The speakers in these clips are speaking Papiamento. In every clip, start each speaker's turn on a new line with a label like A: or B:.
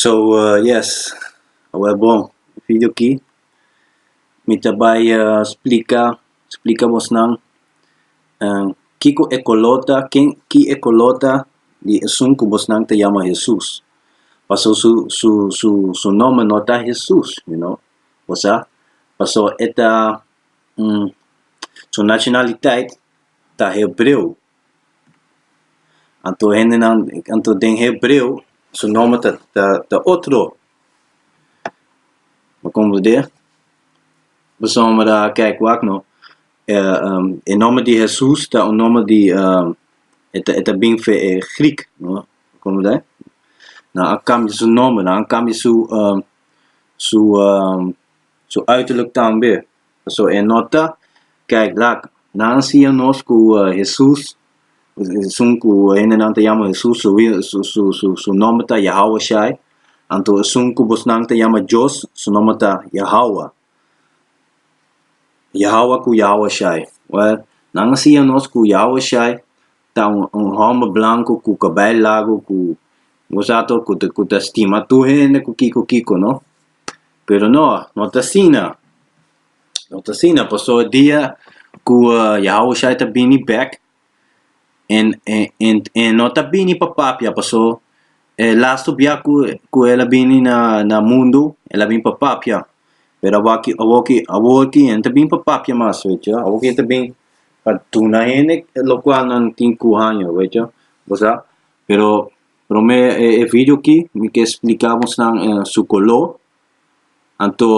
A: so yes awor bo video aki mi ta bai splika splika bosnan kiko e kolor ta ken ki e kolor ta di esun ku bosnan ta yama Hesus paso su su su su nome no ta Hesus you know bo sa paso e ta su nacionalitat ta hebreo. Anto hendenan, anto den hebreo su nòmber ta ta ta otro. Bo komprendé? Pasobra a kijk wak nò, e nòmber di Hesus ta un nòmber di e ta e ta bin f'e e grik, bo komprendé? Na a kambia su nòmber, na a kambia su su su uiterlijk tambe. So e no ta kijk lak. Nan siña nos ku Hesus, esun ku hendenan ta yama Hesus, su wil, su su su su nòmber ta Yahawah Shai, anto esun ku bosnan ta yama Dios, su nòmber ta Yahawah. Yahawah ku Yahawah Shai. Wèl, nan a siña nos ku Yahawah Shai ta un un hòmber blanku ku kabai lagu ku bo sa to ku ta ku ta stima tur hende ku kiko kiko, no? pero no, no ta asina, no ta asina paso e dia ku Yahawashai ta bini bèk en en en en no ta bini pa papia paso e lastu bia ku ku el a bini na na mundu el a bini pa papia pero awaki awoki awoki e no ta bini pa papia mas wehcho awoki e ta bini pa duna hende lokual nan tin ku haña wehcho bo sa pero Prome e video aki mi ke splika bos nan su koló. Anto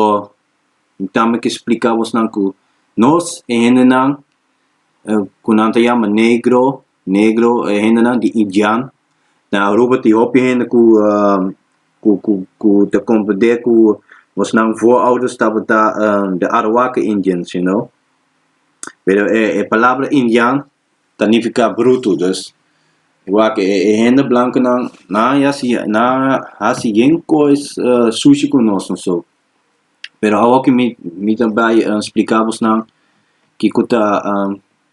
A: mi tambe ke splika bos nan ku nos e hendenan ku nan ta yama negro, negro e hendenan di indian. Na Aruba tin hopi hende ku ku ku ku ta komprende ku bos nan voorouders tabata de Arawaka indians you know. Pero e palabra indian ta nifiká brutu. Dus, igual ku e hende blankunan, nan a yasi, nan a hasi yen kos sushi ku nos no so. Pero awo ku mi mi ta bai spliká bo esnan kiko ta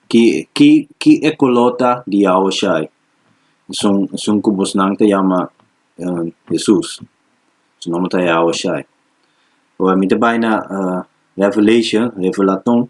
A: ki ki ki e koló ta di Yahuasha, esun esun ku bosnan ta yama Hesus, su nòmber ta Yahuasha. Ora mi ta bai na Revelation, Revelaton,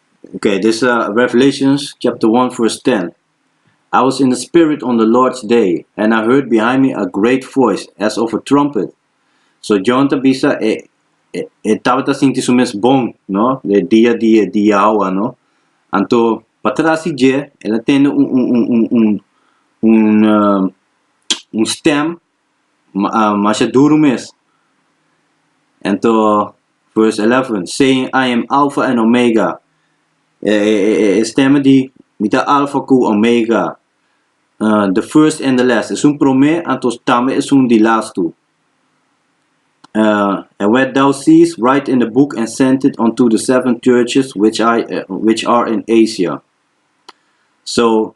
A: Okay, this uh, Revelations chapter 1 verse 10. I was in the spirit on the Lord's day, and I heard behind me a great voice as of a trumpet. So John tabisa e e, e tabata sinti su mes bon, no? De dia dia dia hawa, no? Anto patrasi je, ela tende un un un un un un, uh, un stem masha duru mes. Ento, vers elèfen, Saying, I am Alpha and Omega, e e stèm di, Mi ta Alfa ku Omega, the first and the last, esun promé anto tambe esun di las tu. And what thou seest, write in a book and send it unto the seven churches which are in Asia. So.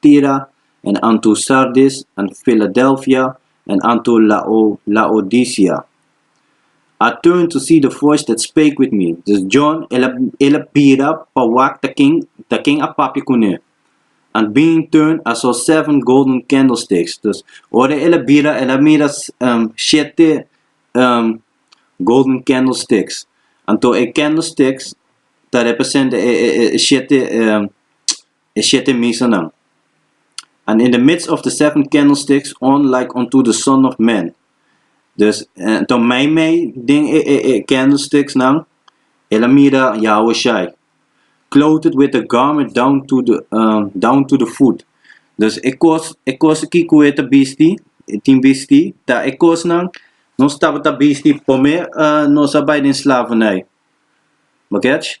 A: Tira, en anto Sardis, en Filadelfia, en anto Laodicea. I turned to see the voice that spake with me. Dus John, el a, el a bira pa wak ta ken, ta ken a papia kuné. And being turned, I saw seven golden candlesticks. Dus, ora el a bira, el a mira shete golden candlesticks. Anto e candlesticks ta representa e, e, e shete. e shete misanan. And in the midst of the seven candlesticks on like unto the son of man. Dus, anto meimei den e e e candlesticksnan, el a mira Yahushai, clothed with a garment down to the down to the foot. Dus e kos, e kos kikoe ta bisti, e tin bisti, ta e kosnan nos tabata bisti prome nos a bai den slavernij. Bakech?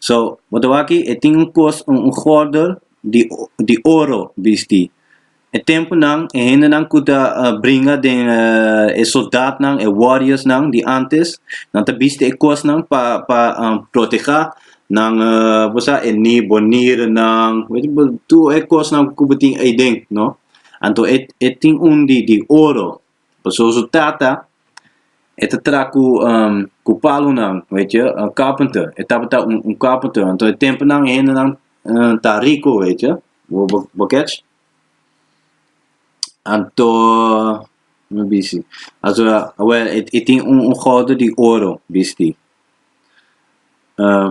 A: So, bo ta wak aki, e tin un kos, un gòrdel di di oro bistí. E tempunan e hendenan ku ta bringa den e soldatnan, e warriorsnan di ántes, nan ta bisti e kosnan pa pa protegá nan bo sa e ni bo nirenan, tur e kosnan ku bo tin aden, no? Anto e e tin un di di oro. Paso su tata e ta traha cu um cu palunan, weet je, uh, carpenter. E tabata un, un carpenter. Anto e temponan e hendenan uh, ta rico, weet je. Bo, bo, bo kech? Anto, me busy. Also, awel, e, e tin un, un gorde di oro, bisti. Uh,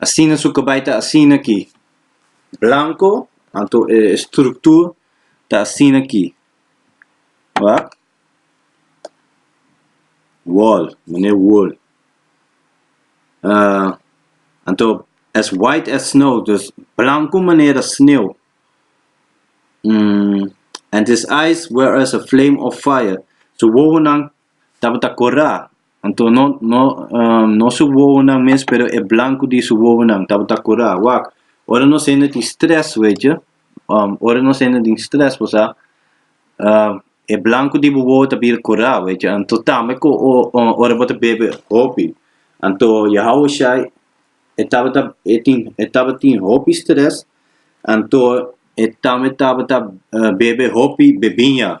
A: asina su kabay ta asina aki, blanko, anto e struktur ta asina aki, wak, wòl, manera wòl, anto as white as snow, dus blanko manera sneeuw, and his eyes were as a flame of fire, su wowonan. tabata corá. Anto no no no su wowonan mes pero e blanco di su wowonan tabata corá wak. Ora nos hende tin stress wechi ora nos hende tin stress por sa e blanco di bo wowo ta bira corá wechi anto tambe cu ora bo ta bebe hopi anto ya hawe shai e tabata e tin e tabatin hopi stress anto e tambe tabata bebe hopi bebiña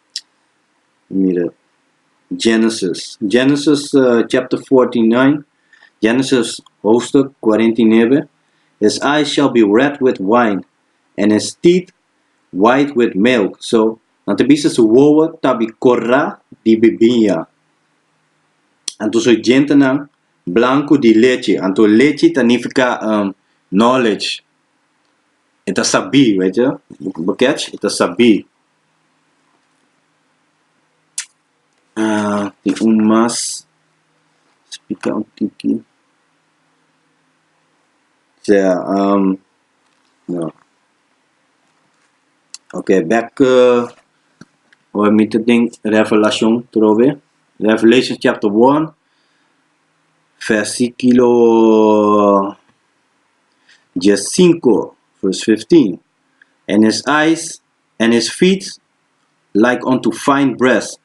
A: mira Genesis. Genesis chapter 49, Genesis hoofdstuk 49. His eyes shall be red with wine, and his teeth white with milk. So, nan ta bisa su wowo ta bin kora di bibiña. Anto su djentenan blanku di lechi. Anto lechi ta nifiká knowledge. E ta sabí, wèt ju? Bo kèch? E ta sabí. tin un mas spika un tiki sea no ok bek ora mi ta den revelashon trobe revelation chapter one versiculo dies sinku vers fifteen en es ais en his feet like unto fine brass,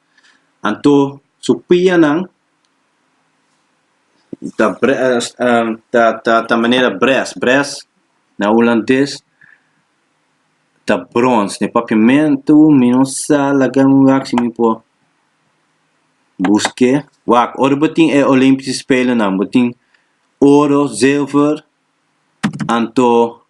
A: anto su pianan ta ta ta ta manera brass, brass na hulandes ta brons, na e papiamentu mi no sa laga mi wak si mi por busk'é, wak ora bo tin e Olimpiese spelennan bo tin oro, zilver, anto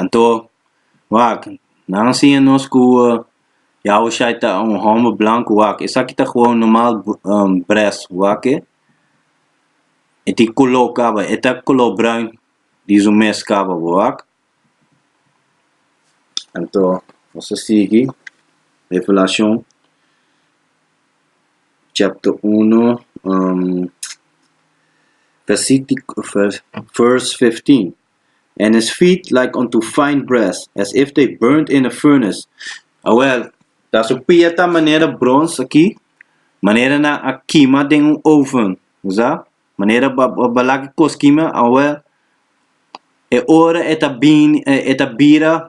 A: Anto, wak, nan a siña nos ku Yahushai ta un hòmber blanku, wak. Esaki ta gewoon normal bres, wak e. E tin koló kaba, e ta koló bruin di su mes kaba bo, wak. Anto, nos a sigui Revelashon chapter uno, vèrsitiko, vèrs fifteen. and his feet like unto fine brass, as if they burned in a furnace. Awel, ta su pia ta manera brons aki, manera nan a kima den un oven, bo sa, manera ba ba ba lak e kos kima, awel, e ora e ta bini e ta bira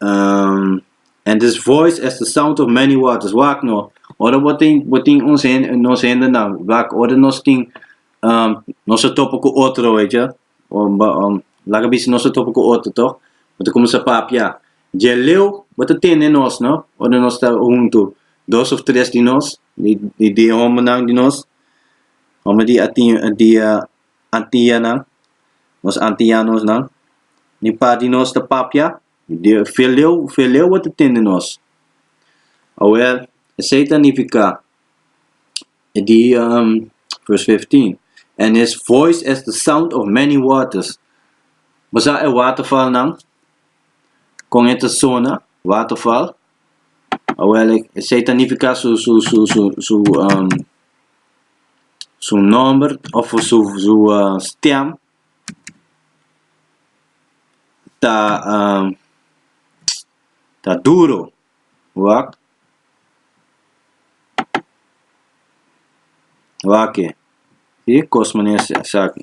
A: Um, and his voice as the sound of many waters. Wak no, ora bo tin, bo tin ons hende, nos hende na, wak, ora nos tin, um, nos a topo ku otro, weet je, um, ba- um, laga bisa nos a topo ku otro, toch? Bo ta kuminsa papia. Djeleu, bo ta tende nos, no? Ora nos ta huntu, dos of tres di nos, di, di, di e hombernan di nos, homber di a tin, di a, antianan, nos antianosnan, ni pa di nos ta papia, veleu, veleu bo ta tin di nos. Awor, esei ta nifiká, e di vers fifteen, And his voice as the sound of many waters. Bo sa e watervalnan, kon e ta sona, waterval? Awel e esei ta nifiká su su su su su su nòmber òf su su stèm ta ta duro, wak wak e si kos manera esaki.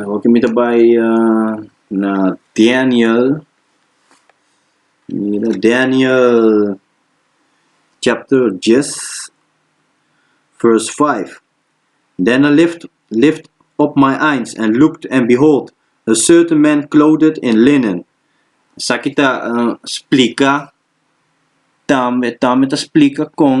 A: Awor ku mi ta bai na Daniel, mira Daniel chapter dies vers vijf, Den I lift up my eyes and looked, and behold, a certain man clothed in linen. Esaki ta splika tambe tambe ta splika kon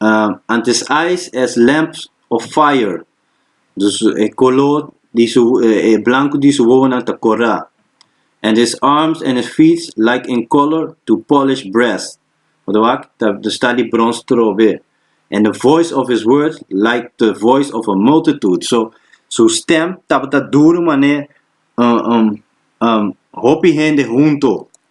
A: ah antes ais es lamps of fire dus e kolo di su e blanku di su wowonan ta kora and his arms and his feet like in color to polished brass pa ta wak ta sta di brons trobe and the voice of his words like the voice of a multitude so su stem tabata duru mane hopi hende hunto.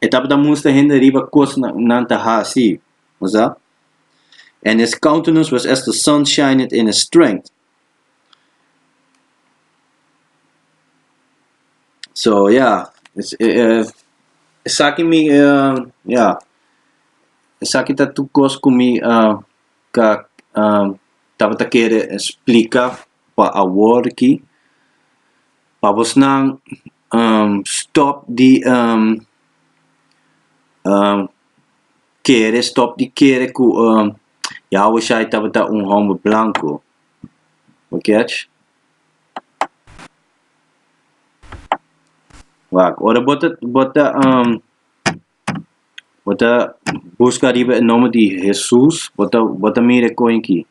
A: E tabata mustra hende riba kos nan ta hasi. Nos a. En his countenance was as the sun shineth in his strength. So, ja, esaki mi, ja, esaki ta tur kos ku mi ka tabata kere splika. pa aworki pa bosnan um stòp di um um kere stòp di kere ku um Yahushai tabata un hòmber blanku. Bo kèch? Wak, ora bo ta bo ta um Bo ta buska riba e nomber di Hesus, bo ta, bo ta mira e koin ki.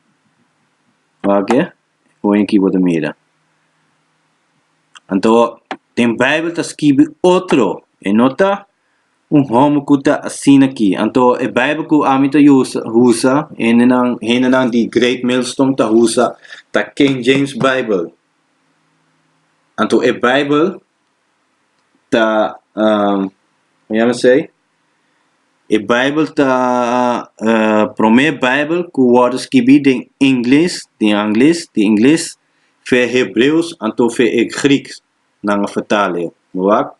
A: Oke? Koin ki bo ta mira. Anto, den Bijbel ta skibi otro, e no ta un homo ku ta asina ki. Anto, e Bijbel ku ami ta usa, usa, hendenan, hendenan di Great Millstone ta usa, ta King James Bijbel. Anto, e Bijbel ta e Bijbel ta promé Bijbel ku wòrdu skibi den ingles, di angles, di ingles, fe hebreos anto fe e grieks nan a vertal e, bo wak.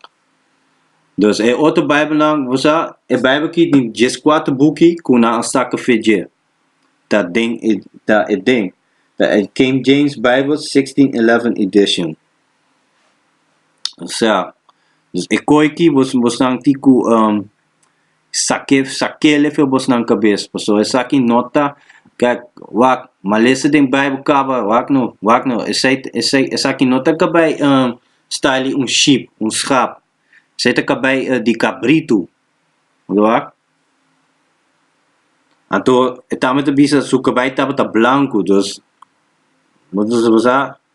A: Dus e otro Bijbelnan ku bo sa, e Bijbel ki di dies kuater buki ku nan a saka fe dje, ta den e ta e den, ta e King James Bijbel, sixteen eleven edition. Osea, e koe ki bos bosnan tin ku sake sakele for bosnan kabes, paso esaki no ta kak wak malesa den Baibel kaba wak no wak no esei esei esaki no ta kabei style di un ship, un schap, esei ta kabei di kabritu, lo wak, anto e tambe ta bisa su kabei tabata blanku, dus bo bo sa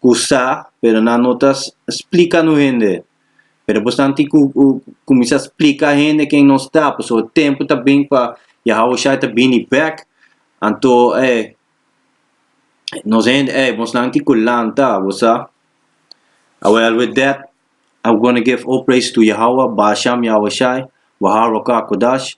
A: cu sa, pero nan no ta splica no hende. Pero depos nan tin cu cuminsa splica hende ken nos ta, pasobra e tempo ta bini pa Yahushai ta bini bek, anto ey, nos hende ey, bosnan tin cu lanta, bo sa. Awel, with that, I'm gonna give all praise to Yahawah, Baal Sham Yahushai, Waharokah Kodash.